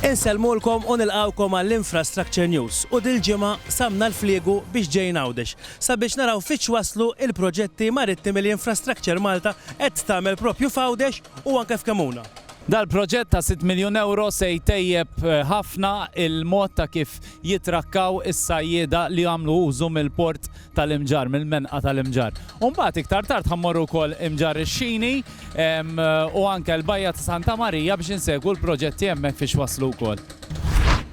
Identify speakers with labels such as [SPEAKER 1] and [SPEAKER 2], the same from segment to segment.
[SPEAKER 1] Insellmulkom u nilqgħukom għall-Infrastructure News u dil-ġimgħa samna l-fliegu biex ġejn Għawdex sabiex naraw fi x'waslu l-proġetti marittimi li Infrastructure Malta qed tagħmel proprju f'Għawdex u anke f'Kemmuna. Dal-proġett ta'
[SPEAKER 2] sitt miljun ewro se jtejjeb ħafna l-mod ta' kif jitrakkaw is-sajjieda li jagħmlu użu mill-port tal-Imġarr, mill-Menqa tal-Imġarr. U mbagħad iktar tard ħammorru wkoll Imġarr ix-Xini u anke l-Bajja ta' Santa Marija biex insegwu l-proġetti hemmhekk fiex waslu wkoll.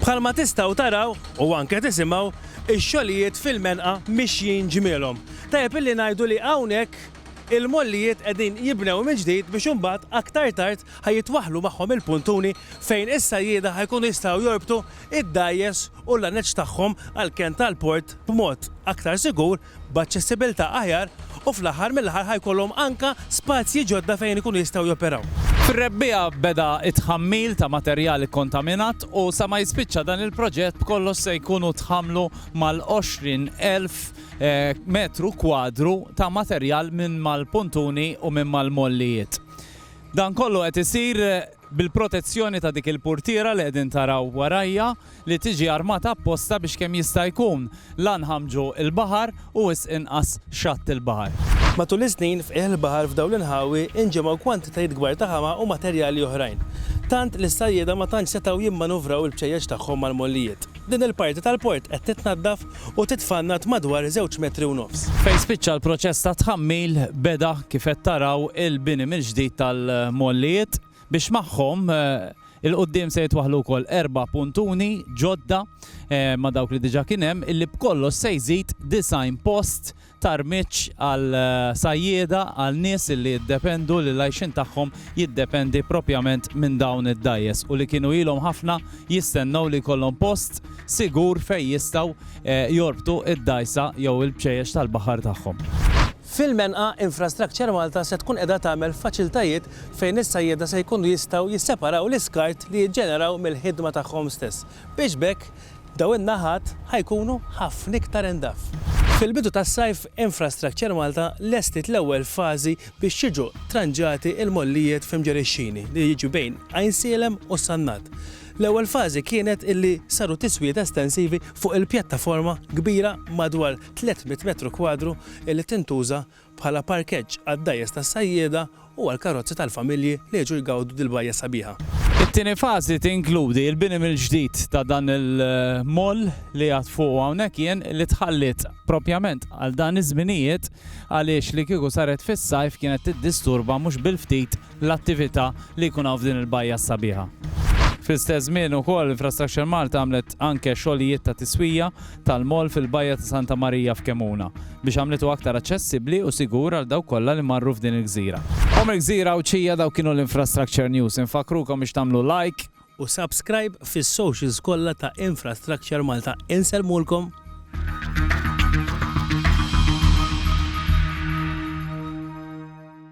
[SPEAKER 2] Bħalma
[SPEAKER 1] tistgħu taraw u anke tisimgħu, ix-xogħlijiet fil-Menqa mixjin ġmielhom. Tajjeb illi ngħidu li hawnhekk il-mollijiet qegħdin jibnew mill-ġdid biex imbagħad aktar tard ħa jitwaħħlu magħhom il-puntuni fejn is-sajjieda ħa jkunu jistgħu jorbtu id-dgħajjes u l-laneċ tagħhom għall-kenn tal-port b'mod aktar sigur, b'aċċessibilità aħjar u fl-aħħar mill-aħħar ħa jkollhom anke spazji ġodda fejn ikunu jistgħu joperaw. Fir-Rebbiegħa
[SPEAKER 2] beda t-tħammil ta' materjal ikkontaminat u sa ma jispiċċa dan il-proġett b'kollox se jkunu tħammlu mal-għoxrin elf metru kwadru ta' materjal minn mal-puntuni u minn mal-mollijiet. Dan kollu qed isir bil-protezzjoni ta' dik il-purtiera li qegħdin taraw warajja li tiġi armata apposta biex kemm jista' jkun la nħammġu l-baħar u wisq inqas xatt il-baħar. Matul is-snin,
[SPEAKER 1] f'qiegħ il-baħar f'dawn l-inħawi inġemgħu kwantitajiet kbar ta' ħama u materjali oħrajn, tant li s-sajjieda ma tantx setgħu jimmanuvraw il-bċejjeċ tagħhom mal-mollijiet. Din il-parti tal-port qed titnaddaf u titfannad madwar żewġ metri u nofs. Fejn spiċċa l-proċess
[SPEAKER 2] ta' tħammil beda kif qed taraw il-bini mill-ġdid tal-mollijiet biex magħhom 'il quddiem se jitwaħħlu wkoll erba' puntuni ġodda ma' dawk li diġa' kien hemm illi b'kollox se jżid 90 post Tarmiġ għal sajjieda, għal nies li jiddependu li l-għajxien tagħhom jiddependi proprjament minn dawn id-dgħajjes u li kienu ilhom ħafna jistennew li jkollhom post sigur fejn jistgħu jorbtu d-dgħajsa jew il-bċejjex tal-baħar tagħhom. Fil-Menqa,
[SPEAKER 1] Infrastructure Malta se tkun qiegħda tagħmel faċiltajiet fejn is-sajjieda se jkunu jistgħu jisseparaw l-iskart li jiġġeneraw mill-ħidma tagħhom stess. biex b'hekk dawn in-naħat ħa jkunu ħafna iktar indaf. Fil-bidu tas-sajf Infrastructure Malta lestiet l-ewwel fażi biex jiġu tranġati l-mollijiet fi Mġeri x-Xini li jiġi bejn Għajnsielem u s-Sannat. L-ewwel fażi kienet illi saru tiswijiet estensivi fuq il-pjattaforma kbira madwar 300 metru kwadru illi tintuża bħala parkeġġ għad-dgħajjes tas-sajjieda u għall-karozzi tal-familji li jiġu jgawdu dil-bajja sabiħa. It-tieni fażi
[SPEAKER 2] tinkludi l-bini mill-ġdid ta' dan il-mall li għadt fuqu hawnhekk jien li tħalliet propjament għal dan iż-żminijiet għaliex li kieku saret fis-sajf kienet tiddisturba mhux bil-ftit l-attività li jkun hawn f'din il-bajja s-sabiħa. Fl-istess żmien ukoll Infrastructure Malta għamlet anke xogħlijiet ta' tiswija tal-moll fil-bajja ta' Santa Marija f'Kemuna biex għamlitu aktar aċċessibbli u sigur għal dawk kollha li marru f'din il-gżira. Home il-Gżira Għawdxija dawk kienu l-Infrastructure News. Infakkrukom biex tagħmlu like. U
[SPEAKER 1] subscribe fis-socials kollha ta' Infrastructure Malta. Insellmulkom.